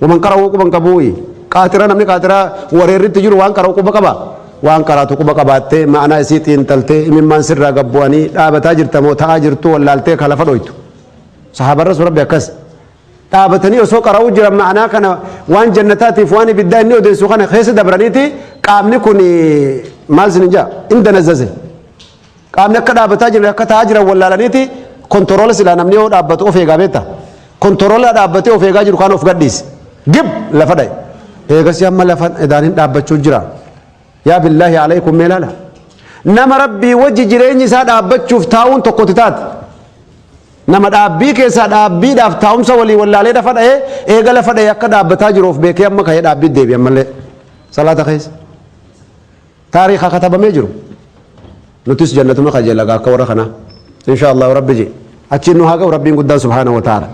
Waman qara'uu quban qabuuyi. Qaaxira namni qaaxira wareerritti jiru waan qara'u quba qaba? Waan qaraatu quba qabaattee ma'anaa isii xiinxaltee imimmaan sirraa gad bu'anii dhaabataa jirta moo ta'aa jirtuu wallaaltee ka lafa dhoytu. Sahaabaan Rasuul Rabbi akkas. Dhaabatanii osoo qara'uu jiran ma'anaa kana waan jannataatiif waan ibiddaa inni odeessu kana keessa dabraniiti qaamni kun maal sin hin jaa? Hin danazzaze. Qaamni akka dhaabataa jiran akka taa'aa jiran wallaalaniiti kontorola silaa namni yoo dhaabbatu of eegaa beekta. Kontorola dhaabbatee of eegaa jiru kaan of gadhiise. Gib lafa dha'e. Eegasii amma lafa edaaniin dhaabbachuu jira. Yaa billaahi alaykum mee laala. Nama rabbii wajji jireenyi isaa dhaabbachuuf taa'uun tokkotti taate. Nama dhaabbii keessaa dhaabbiidhaaf taa'umsa walii wallaalee lafa dha'ee eega lafa dha'ee akka dhaabbataa jiru of beekee amma ka'ee dhaabbii deebi ammallee salaata keessa. Taariikha katabamee jiru. Nutis jannatuma kajeella gaa akka warra kanaa. Inshaa Allahu Rabbi jee. Achiin nu haa ga'u Rabbiin guddaan subhaanahu wa ta'aala.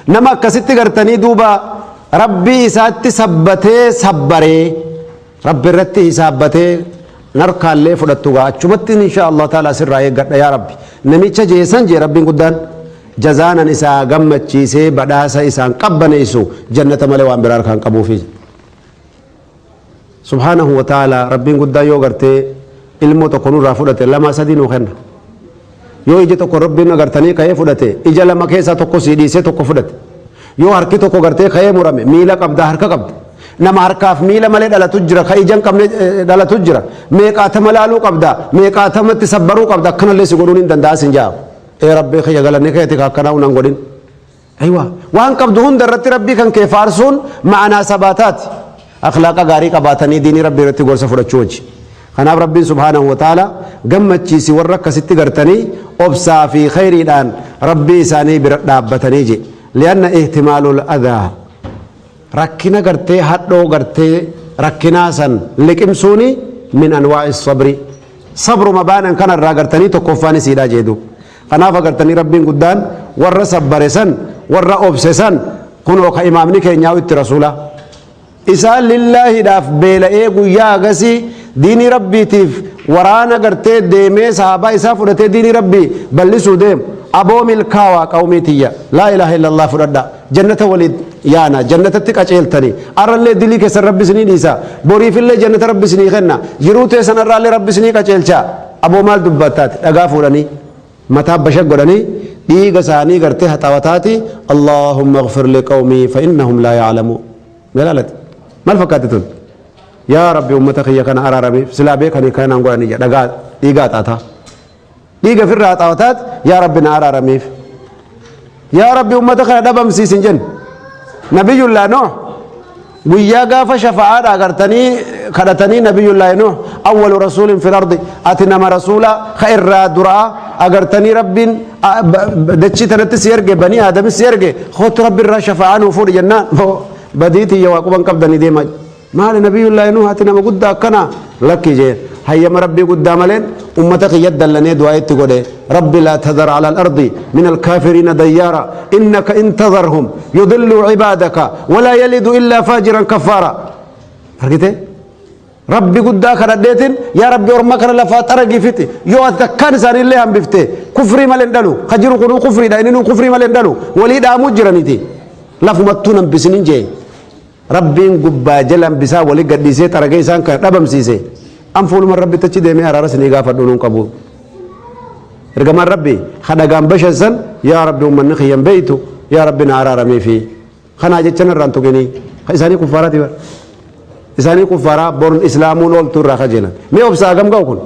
Nama akkasitti gartanii duuba Rabbii isaatti sabbatee sabbaree Rabbi irratti hisaabbatee narkaallee fudhattu gaa achumatti inshaa Allah ta'aala sirraa eeggadha yaa Rabbi. Namicha jeesan jee Rabbiin guddaan jazaanan isaa gammachiisee badhaasa isaan qabbaneessu jannata malee waan biraa harkaan qabuufi. Subhaanahu wa ta'aalaa, Rabbiin guddaan yoo gartee ilmoo tokko nurraa fudhate lama sadii nuu kenna. Yoo ija tokko Rabbiin agartanii ka'ee fudhate ija lama keessaa tokko sii dhiisee tokko fudhate. Yoo harki tokko gartee ka'ee murame miila qabda harka qabda. Nama harkaaf miila malee dhalatu jira ka ija hin qabne eh, dhalatu jira. Meeqaatama laaluu qabda meeqaatamatti sabbaruu qabda akkanallee si godhuun hin danda'a sin ja'a. Ee Rabbii kiyya galanni keeti ka akkanaa unan godhin. Aywa waan qabdu hunda irratti rabbii kan kee faarsuun ma'anaa sabaataati. Akhlaaqa gaarii qabaatanii diinii rabbii irratti gorsa fudhachuu wajji. Kanaaf rabbiin subhaanahu wa ta'ala gammachiisi warra akkasitti gartanii obsaa fi khayriidhaan rabbii isaanii bira dhaabbatanii je. Li'anna ihtimaalul adhaa. Rakkina gartee hadhoo gartee rakkinaa san liqimsuuni min anwaa'i sabri. Sabruma baanan kanarraa gartanii tokkoffaan isiidhaa jeedu. Kanaaf agartanii Rabbiin guddaan warra sabbare san, warra obse san, kunoo ka imaamni keenyaa'u itti rasuulaa. Isaan lillaahidhaaf beela'ee guyyaa hagasii diinii Rabbiitiif waraana gartee deemee sahaabaa isaa fudhatee diinii Rabbii ballisuu deemu. Aboo milkaawaa qawmii tiyya. Laa ilaaha illallah fudhadhaa. jannata waliin yaana jannatatti qaceeltanii arrallee dilii keessan rabbi isinii dhiisa boriifillee jannata rabbi isinii kenna jiruu teessan arraallee rabbi isinii qaceelcha aboo maal dubbattaati dhagaa fuudhanii mataa bashag godhanii dhiiga isaanii gartee haxawataati allaahumma ighfir liqawmii fa innahum laa ya'lamuu galaalati maal fakkaatti tun yaa rabbi ummata kiyya kana araaramiif silaa beekanii kanaan godhanii jedha dhagaa dhiigaa xaataa dhiiga firra haxaawataat yaa rabbi na araaramiif yaa rabbi ummata kana dhabamsiisin jen nabiyullaa nooh guyyaa gaafa shafa'aadha agartanii kadhatanii nabiyullaahi nooh awwalu rasuulin fil ardi ati nama rasuula ka irraa duraa agartanii rabbiin a- ba- ba- dachii tanatti si erge banii aadamis si erge kootu rabbi irraa shafa'aa nuu fuudhi jennaan badiitii yaa waaquban qabdanii deemaa Maali Nabiyullaahi Nuuh ati nama guddaa akkanaa? Lakki jeen. Hayyama Rabbii guddaa maleen ummata kiyya dallanee du'aayi itti godhe. Rabbi laa tadhar ala al-ardi min al-kaafiriina dayyaara innaka in tadharhum yudilluu cibaadaka walaa yalidu illaa faajiran kaffaara. Argitee? Rabbi guddaa kadhadheetiin yaa Rabbi orma kana lafaa xaragii fixi yoo ati takkaan isaanii illee hambifte kufrii malee hin dhalu ka jiru kunuu kufriidha inni nuu kufrii malee hin dhalu walii dhaamuu jiraniiti lafumattuu hin hambisinin jee. Rabbiin gubbaa jalaan bisaan wali gadhiisee xaragee isaan kana dhabamsiise an fuuluma rabbitti achi deemee araara isinii gaafadhu nuun qabu ergamaan rabbi kadhagaan bashan san yaa rabbi ummanni kiyyan beeytu yaa rabbi na araaramee fi kanaa jechan irraan tuqinii ka isaanii kuffaaraati bara isaanii kuffaaraa born islaamuun ooltuu irraa kajeelan mee obsaa gam ga'u kun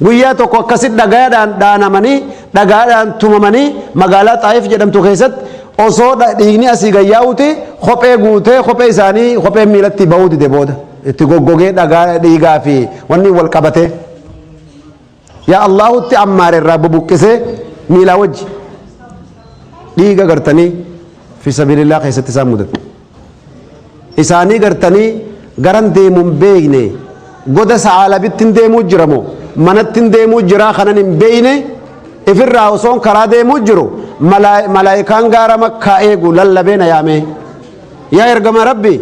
Guyyaa tokko akkasitti dhagaadhaan dhaanamanii, dhagaadhaan tumamanii magaalaa Xaayif jedhamtu keessatti osoo dha- dhiigni asii gad yaa'uuti kophee guutee kophee isaanii kopheen miilatti bahuu dide booda itti goggogee dhagaa dhiigaa fi wanni wal qabatee yaa Allaahutti ammaare irraa bubuqqisee miilaa wajji dhiiga gartanii fi sabilillaa keessatti isaan mudate. isaanii gartanii garan deemu hin beeyne goda sa'aalabittin deemuu jira moo manattin deemuu jiraa kanan hin beeyne ifirraa osoon karaa deemuu jiru malaayikaan gaara makkaa eegu lallabee na yaamee yaa ergama rabbi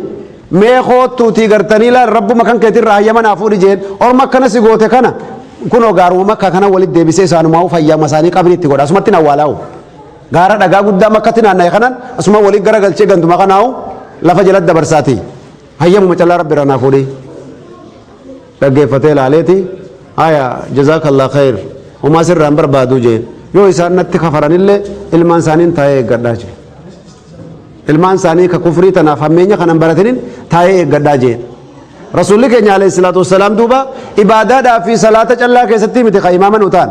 mee koottuutii gartanii laal rabbuma kan keetirraa hayyama naa fuudhi jeen orma akkana si goote kana kunoo gaaruma makkaa kana walitti deebisee isaanumaa fayyama isaanii qabni itti godha asumatti na waalaa'u. Gaara dhagaa guddaa makkatti naanna'e kanan asumaan waliin gara galchee ganduma kanaahu lafa jalatti dabarsaati. Hayyamuma callaa rabbi irraa naa fuudhii. Dhaggeeffatee laaleeti. Haya jazaakallaa khayr. Homaa sirraa hin barbaadu jeen. Yoo isaan natti kafaranillee ilmaan isaaniin taa'ee eeggadhaa jeen. Ilmaan isaanii ka kufrii tanaaf hammeenya kanan baratinin taa'ee eeggadhaa jeen. Rasuulli keenya alayhi salaatu wassalaam duuba ibaadaadhaa fi salaata callaa keessatti miti ka imaama nu ta'an.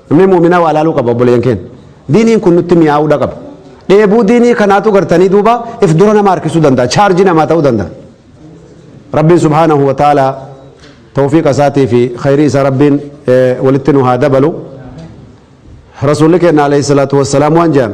Namni mu'minaa waa laaluu qaba obboleeyyan keenya. Diiniin kun nutti mi'aawudha qaba. Dheebuu diinii kanaatu gartanii duuba if dura nama harkisuu danda'a. Chaarjii namaa ta'uu danda'a. Rabbiin subhaanahu wa ta'aalaa tawfiiqa isaatii fi khayrii isaa Rabbiin eh, walitti nu haa dabalu. Rasuulli keenya alayhi salaatu wassalaam waan jedhan.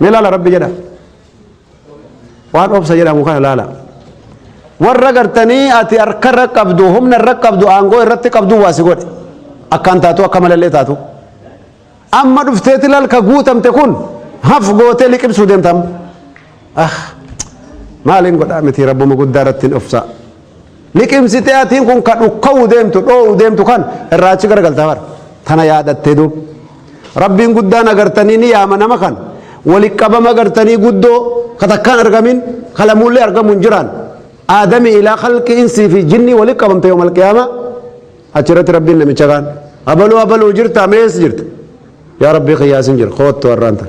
Mee laala rabbi jedha. Waan obsa jedhamu kana laala. Warra gartanii ati harkarra qabdu humna irra qabdu aangoo irratti qabdu waa si godhe. Akkaan taatu akka malallee taatu. Amma dhufteeti lalka guutamte kun haf gootee liqimsuu deemtam. Ah maaliin godhaa miti rabbuma guddaa irratti hin obsaa. Liqimsitee atiin kun ka dhukka'uu deemtu, dhoo'uu deemtu kan irraa achi garagalta bar. Tana yaadattee duub. Rabbiin guddaan agartanii ni yaama nama kan wali qabama agartanii guddoo ka takkaan argamin ka lamuullee argamu hin jiraan. Aadamii ilaa khalqi insii fi jinnii wali qabamte yoomal qiyaamaa. Achirratti Rabbiin namicha kaan. Abaluu abaluu jirta mees jirta. Yaa Rabbii kiyyaa isin jira koottu har'aan tan.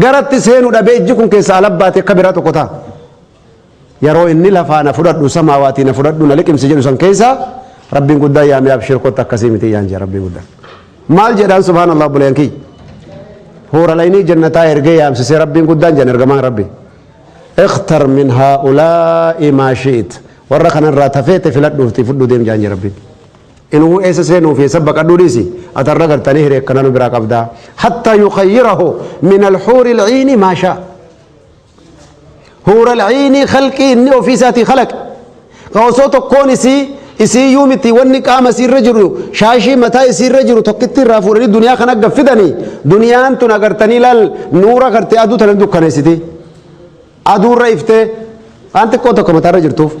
Garatti seenu dhabee ijji kun keessaa alabbaatee akka biraa tokko ta'a. Yeroo inni lafaa na fudhadhu samaawaatii na fudhadhu na liqimsi jedhu san keessaa Rabbiin guddaan yaamee abshir kotta akkasii miti yaan jee Rabbiin guddaan. Maal jedhaan subhaanallah obboleeyyan kiyya. Hoora laynii jannataa ergee yaamsisee Rabbiin guddaan jedhan ergamaan Rabbi. Ikhtar min haa'ulaa'i maa shi'it. Warra kanarraa tafeete filadhuufti fudhu deem jaan jee Rabbiin. Inuu eessa seenuu fi eessa baqadhuu dhiisi ati har'a gartanii hiree akkanaa nu biraa qabda. Hatta yukayyirahu min alhuuri alciini maa shaa. Huura alciinii khalqii inni ofii isaatii khalaqe. Ka osoo tokkoon isii isii yuu miti wanni qaama isii irra jiru shaashii mataa isii irra jiru tokkitti irraa fuudhanii duniyaa kan agga fidanii duniyaan tun agartanii laal nuura gartee aduu tana dukkaneessiti. Aduu irra iftee waan xiqqoo tokko mataa irra jirtuuf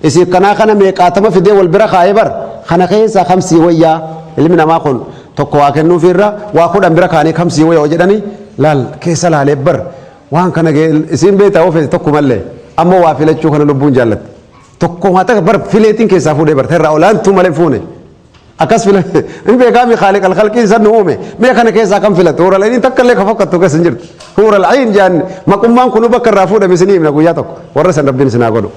isiif kanaa kana meeqaatama fidee wal bira kaa'ee bar kana keessaa kam sii wayyaa ilmi namaa kun tokko waa kennuufii irra waa kudhan bira kaa'anii kam sii wayya jedhanii laal keessa laalee bar waan kana isiin beektaa ofeeti tokko mallee amma waa filachuu kana lubbuun jaallatte tokko waa takka bar fileetiin keessaa fuudhee bar irraa olaantuu malee fuune. Akkas fila ni beekaa mi khaaliq alkhalqii isan nu uume mee kana keessaa kan filattu huura al'ainiin takka illee ka fakkattu keessa hin jirtu huura al'ain jaan maqummaan kunu bakka irraa fuudhame isinii himna guyyaa tokko warra san rabbiin isinaa godhu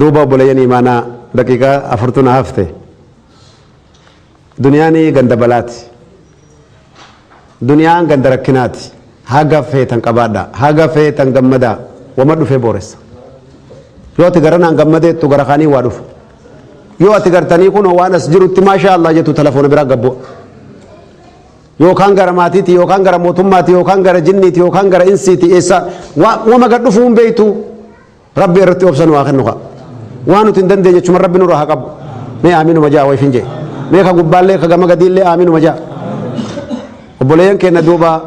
duuba obboleeyyan imaanaa daqiiqaa afurtuna hafte duniyaanii ganda balaati Duniyaan ganda rakkinaati. Haga feetan qabaadhaa. Haga feetan gammadaa. Wama dhufee booressa. Yoo ati garanaan gammadeettu gara kaanii waa dhufa. Yoo ati gartanii kunoo waan as jirutti maashaa Allah jettu telefoona biraa gabboo. Yookaan gara maatiiti, yookaan gara mootummaati, yookaan gara jinniiti, yookaan gara insiiti, eessa wama gad dhufuu hin beektu. Rabbi irratti obsa nu haa kennu kaa. Waan nuti hin dandeenye achuma Rabbi nurra haa qabu. Mee aaminuma ja'a wayifin jee. Mee ka gubbaallee ka gama gadiillee aaminuma ja'a. Obboleeyyan keenya duuba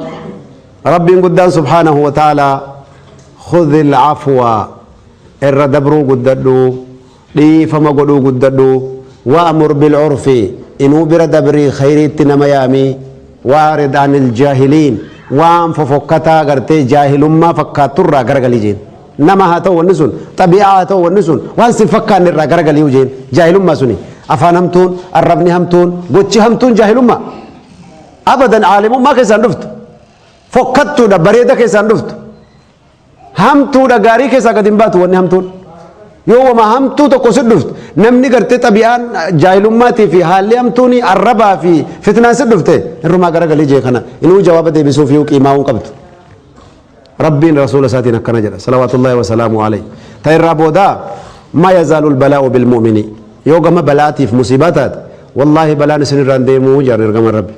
Rabbiin guddaan subhaanahu wa ta'ala khudhil afwa irra dabruu guddadhu. Dhiifama godhuu guddadhu. Wa'mur bil'urfi, inuu bira dabrii khayriitti nama yaami. Wa'arid anil jaahiliin, waan fofokkataa gartee jaahilummaa fakkaattu irraa garagali jeen. Nama haa ta'u wanni sun, xabi'aa haa ta'u wanni sun, waan sin fakkaanne irraa garagali jeen. Jaahilummaa suni. Afaan hamtuun, arrabni hamtuun, gochi hamtuun jaahilummaa? Abadan aalimummaa keessaa hin dhuftu. Fokkattuudha, bareeda keessaa hin dhuftu. Hamtuudha gaarii keessaa gad hin baatu wanni hamtuun. Yoo wama hamtuu tokko si dhufte namni gartee xabi'aan jaahilummaatii fi haalli hamtuun arrabaa fi fitnaan si dhufte irrumaa garagalii jee kana inuu jawaaba deebisuu fi qiimaa hin qabdu. Rabbiin rasuula isaatiin akkana jedha salawaatullaahi wa salaamu alayhi. Ta irraa boodaa ma yazaalul balaa'u bil mu'mini yoo gama balaatiif musiibaa taate wallaahi balaan isin irraan deemuu jaan ergama rabbi.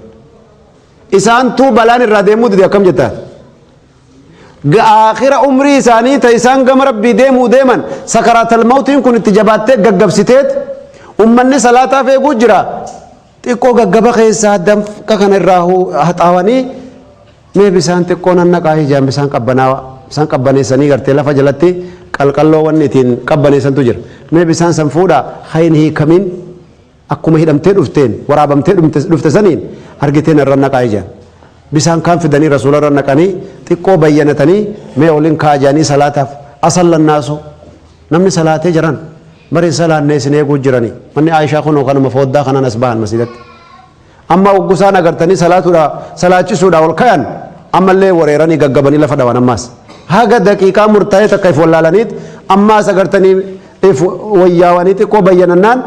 Isaantuu balaan irraa deemuu dide akkam jettaa? ga aakhira umrii isaanii ta isaan gama rabbii deemuu deeman sakaraatal mawtiin kun itti jabaattee gaggabsiteet ummanni salaataaf eeguu jira xiqqoo gaggaba keessaa damqa kana irraa hu- haxaawanii mee bisaan xiqqoo nannaqaa ijaan bisaan qabbanaawa bisaan qabbaneessanii gartee lafa jalatti qalqalloo wanni ittiin qabbaneessantu jira mee bisaan san fuudhaa hayin hiikamin Akkuma hidhamtee dhufteen, waraabamtee dhufte saniin argitee na irra naqaa'i je'an. Bisaan kaan fidanii Rasuula irra naqanii, xiqqoo bayyanatanii, mee olin kaa'a je'anii salaataaf, Asalla nnaasu, namni salaatee jaran, bar hin salaanne isin eeguu jiranii, manni Aa'ishaa kunoo kanuma fooddaa kanaan as bahan masiidatti. Amma oggu isaan agartanii salaatudha salaachisuudha ol kayan ammallee wareeranii gaggabanii lafa dhawan ammaas. Haga daqiiqaa murtaa'ee takka if wallaalaniit ammaas agartanii if wayyaawanii xiqqoo bayyanannaan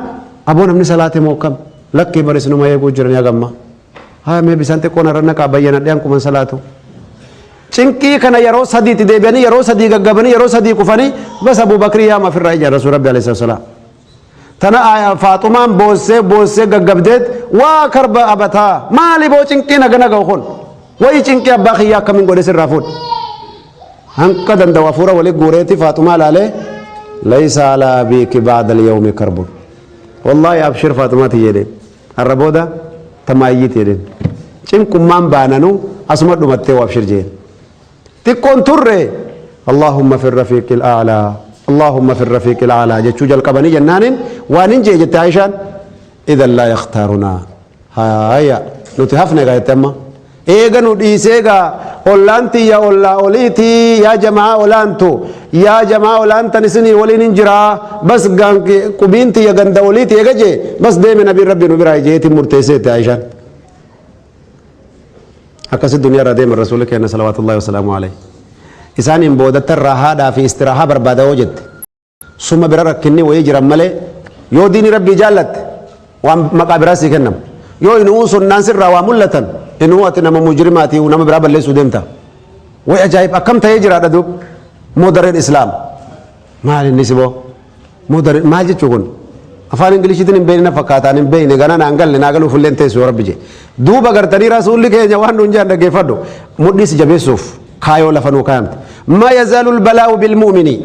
aboo namni salaate moo kam lakkii baris numa eeguu jiranii hagamma. Haa mee bisaan xiqqoo narra naqaa bayyanadhee hanquman salaatu. Cinqii kana yeroo sadiitti deebi'anii yeroo sadii gaggabanii yeroo sadii kufanii bas Abuu Bakrii yaama ofirraa ija Rasuul Rabbi alayhi salaam. Tana aayaa faaxumaan boossee boossee gaggabdeet waa karba abataa maali boo cinqii naga naga kun wayi cinqii abbaa kiyyaa akkamiin godhe sirraa fuudhe. Hanqa danda'u hafuura walii guureeti faaxumaa laalee laysa alaa biiki baada liyawmi karbun. Wallaahi abshir faaxumaa tiyyeedhe har'a booda tamaayyii tiyyeedhe. Cinqummaan baananuu asuma dhumattee waa abshir jeen. xiqqoon turre Allaahumma fi rafiiqil a'laa Allaahumma fi rafiiqil a'laa jechuu jalqabanii jennaaniin waan hin jee jette Aishaan idan laa yakhtaarunaa haaya nuti hafne gaa jette amma eega nu dhiisee gaa ollaan tiyya ollaa oliitii yaa jamaa olaantu yaa jamaa olaantan isinii waliin hin jiraa bas gaan qubiin tiyya ganda oliitii eega jee bas deeme nabiin rabbii nu biraa jeetiin murteesseetti Aishaan akkasi duniyaa irraa deeman rasuulli keenya salawaatullaahi wasalaamu alayhi isaaniin boodatta irraa haadhaa fi istiraahaa barbaada yoo jette suma bira rakkinni wayii jiran malee yoo diini rabbii jaallatte waan maqaa biraa sii kennamu yoo inuu sunnaan sirraa waa mul'atan inuu ati nama mujrimaati nama biraa balleessuu deemta way ajaa'ib akkam ta'ee jiraadha duub moo dareen islaama Maal inni siboo? Mudari maal jechuu kun? Afaan Ingiliishiitiin hin beekne fakkaataan hin beekne gana naan galle naa galuuf illee hin teessu yoo rabbi jee. Duuba gartanii rasuulli keenya waan nuun jedhan dhaggeeffadhu. Mudhii si jabeessuuf kaayoo lafa nuu kaayamte. Ma yazaalul balaa'u bil mu'minii.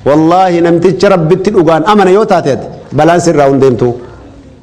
Wallaahi namticha rabbitti dhugaan amana yoo taate ati balaan sirraa hin deemtu.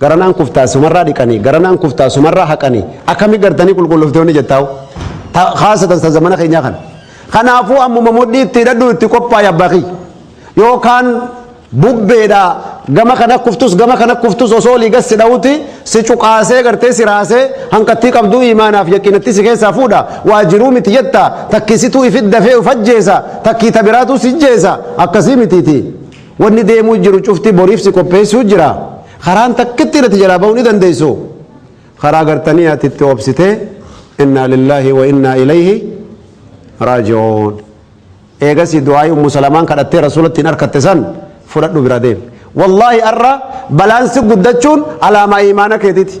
Gara naan kuftaa sumarraa dhiqanii gara naan kuftaa sumarraa haqanii akkami gartanii qulqulloftoonni jettaa'u haasatan san zamana keenyaa kana. Kanaafuu ammuma mudhii itti hidhadhu itti qophaa'i abbaa kiyya. Yookaan bubbeedhaa gama kana kuftus gama kana kuftus osoo olii gad si dha'uti si cuqaasee gartee si raasee hanqattii qabduu imaanaaf yaqiinatti si keessaa fuudha waa jiruu miti jetta takkisituu ifit dafee uf ajjeesa takkii tabiraatuu si jeesa akkasii mitiiti. Wanni deemuu jiru cufti boriif si qopheessuu jira. Karaan takka ittiin ati jalaa bahuu ni dandeessu. Karaa gartanii ati itti obsitee innaa lillaahi wa innaa ilayhi raaji'uun. Eegasii du'aa'ii ummu salamaan kadhattee rasuulattiin harkatte san fudhadhu bira deemi. Wallaahi arra balaan si guddachuun alaamaa imaana keetiti.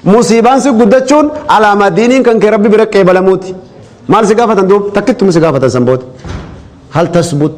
Musiibaan si guddachuun alaamaa diiniin kan kee rabbi bira qeebalamuuti. Maal si gaafatan duub takkittuma si gaafatan san booda. Hal tasbut.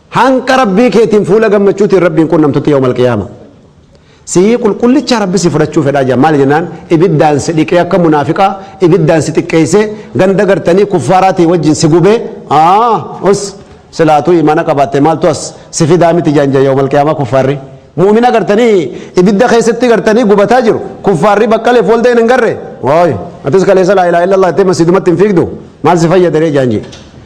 Hanga Rabbii keetiin fuula gammachuutiin Rabbiin qunnamtutti yawmal qiyaama. Sihii qulqullichaa Rabbi si fudhachuu fedhaa jira. Maali jennaan ibiddaan si dhiqee akka munaafiqaa ibiddaan si xiqqeessee ganda gartanii kuffaaraatii wajjin si gubee aa us silaatuu imaana qabaatte maaltu as si fidaa miti jaan jaa yawmal qiyaamaa kuffaarri. Mu'mina gartanii ibidda keessatti gartanii gubataa jiru kuffaarri baqqaleef wal da'een hin garre. Waay atis kaleessa laa ilaaha illallah jettee masjidumatti hin fiigdu maal si fayyada ree jaan jee.